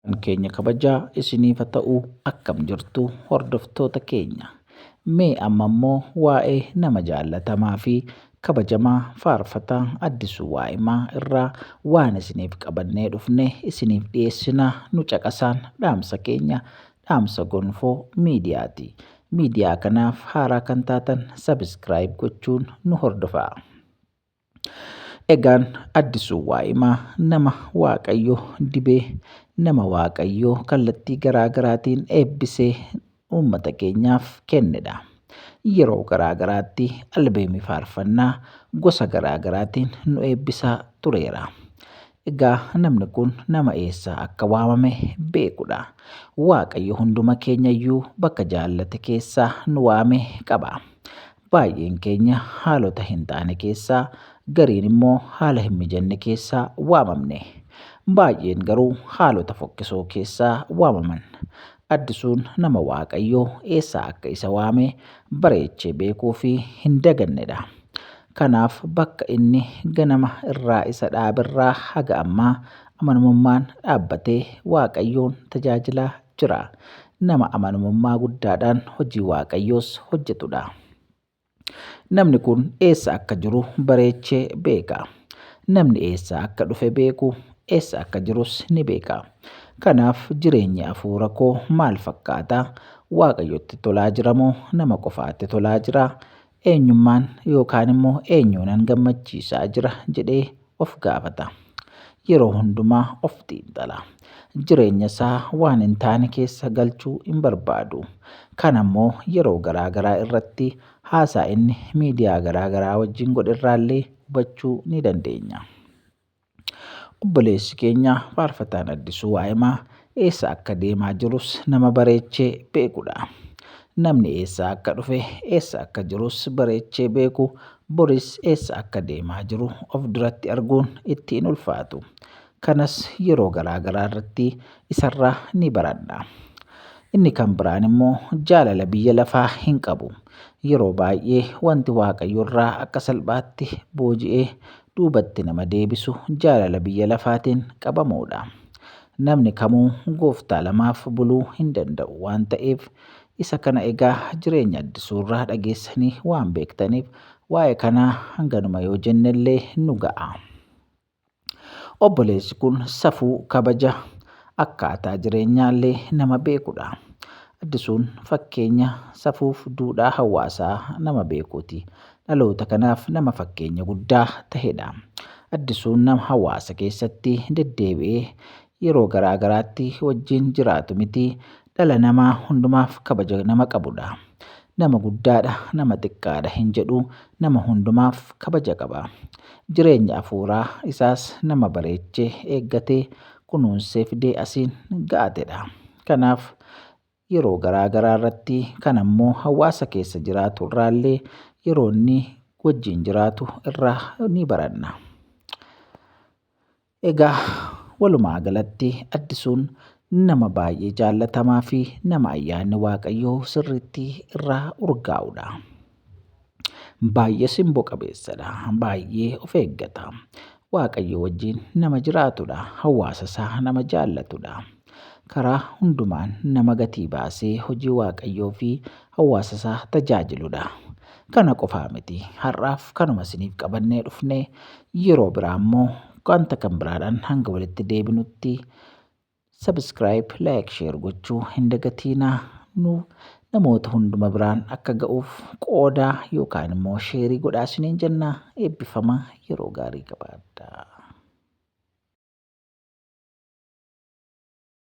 Kan keenya kabajaa isiniif haa ta'u akkam jirtu hordoftoota keenya. Mee amma immoo waa'ee nama jaallatamaa fi kabajamaa faarfataa Addisuu Waa'imaa irraa waan isiniif qabannee dhufne isiniif dhiyeessina nu caqasaan dhaamsa keenya dhaamsa gonfoo miidiyaati. Miidiyaa kanaaf haaraa kan taatan sabiskiraayib gochuun nu hordofaa. Egaan addisuu waa'imaa nama waaqayyo dibee nama waaqayyo kallattii garaa garaatiin eebbisee uummata keenyaaf kennedha. Yeroo garaa garaatti albeemii faarfannaa gosa garaa garaatiin nu eebbisaa tureera. Egaa namni kun nama eessaa akka waamame beekudha. Waaqayyo hunduma keenyayyuu bakka jaallate keessaa nu waame qaba. Baay'een keenya haalota hin taane keessaa gariin immoo haala hin mijanne keessaa waamamne. Baay'een garuu haalota fokkisoo keessaa waamaman. Addisuun nama Waaqayyoo eessaa akka isa waame bareechee beekuu fi hin dagannedha. Kanaaf bakka inni ganama irraa isa dhaaberraa haga ammaa amanamummaan dhaabbatee Waaqayyoon tajaajilaa jira. Nama amanamummaa guddaadhaan hojii Waaqayyoos hojjetu dha. Namni kun eessa akka jiru bareechee beeka. Namni eessaa akka dhufe beeku, eessa akka jirus ni beeka. Kanaaf jireenyi hafuura koo maal fakkaata? Waaqayyotti tolaa jira moo nama qofaatti tolaa jira? Eenyummaan yookaan immoo eenyuunan gammachiisaa jira jedhee of gaafata. Yeroo hundumaa of xiinxala. Jireenya isaa waan hin taane keessa galchuu hin barbaadu. Kan ammoo yeroo garaa garaa irratti haasaa inni miidiyaa garaa garaa wajjin godherraallee hubachuu ni dandeenya. Obboleessi keenya Faarfataan Addisuu Waa'imaa eessa akka deemaa jirus nama bareechee beekudha. Namni eessaa akka dhufe, eessa akka jirus bareechee beeku boris eessa akka deemaa jiru of duratti arguun itti hin ulfaatu. Kanas yeroo garaa garaa irratti isarraa ni baradha. Inni kan biraan immoo jaalala biyya lafaa hin qabu. Yeroo baay'ee wanti Waaqayyorraa akka salphaatti booji'ee duubatti nama deebisu jaalala biyya lafaatiin qabamuudha. Namni kamuu gooftaa lamaaf buluu hin danda'u waan ta'eef isa kana egaa jireenya addisuurraa dhageessanii waan beektaniif waa'ee kanaa hanganuma yoo jennellee nu ga'a. Obboleessi kun safuu kabaja akkaataa jireenyaallee nama beekudha. Addisuun fakkeenya safuuf duudhaa hawaasaa nama beekuuti. dhaloota kanaaf nama fakkeenya guddaa tahedha. Addisuun nama hawaasa keessatti deddeebi'ee yeroo garaa garaatti wajjin jiraatu miti, dhala namaa hundumaaf kabaja nama qabudha. Nama guddaadha, nama xiqqaadha hin jedhu, nama hundumaaf kabaja qaba. Jireenya afuuraa isaas nama bareechee, eeggatee, kunuunsee fidee asiin ga'atedha. Kanaaf yeroo garaa garaa irratti kan ammoo hawaasa keessa jiraatu irraallee yeroo inni wajjin jiraatu irraa ni baranna. Egaa walumaa galatti addisuun nama baay'ee jaallatamaa fi nama ayyaanni waaqayyoo sirriitti irraa urgaa'udha. Baay'ee simboo qabeessadha. Baay'ee of eeggata. Waaqayyoo wajjin nama jiraatudha. Hawaasa isaa nama jaallatudha. Karaa hundumaan nama gatii baasee hojii waaqayyoo fi hawaasa isaa tajaajiludha. Kana qofaa miti. Har'aaf kanuma isiniif qabannee dhufne yeroo biraa immoo wanta kan biraadhaan hanga walitti deebinutti Subscribe, like, share gochuu hin dagatiinaa nu namoota hunduma biraan akka ga'uuf qoodaa yookaan immoo sheerii godhaa isiniin jenna eebbifama yeroo gaarii qabaadhaa.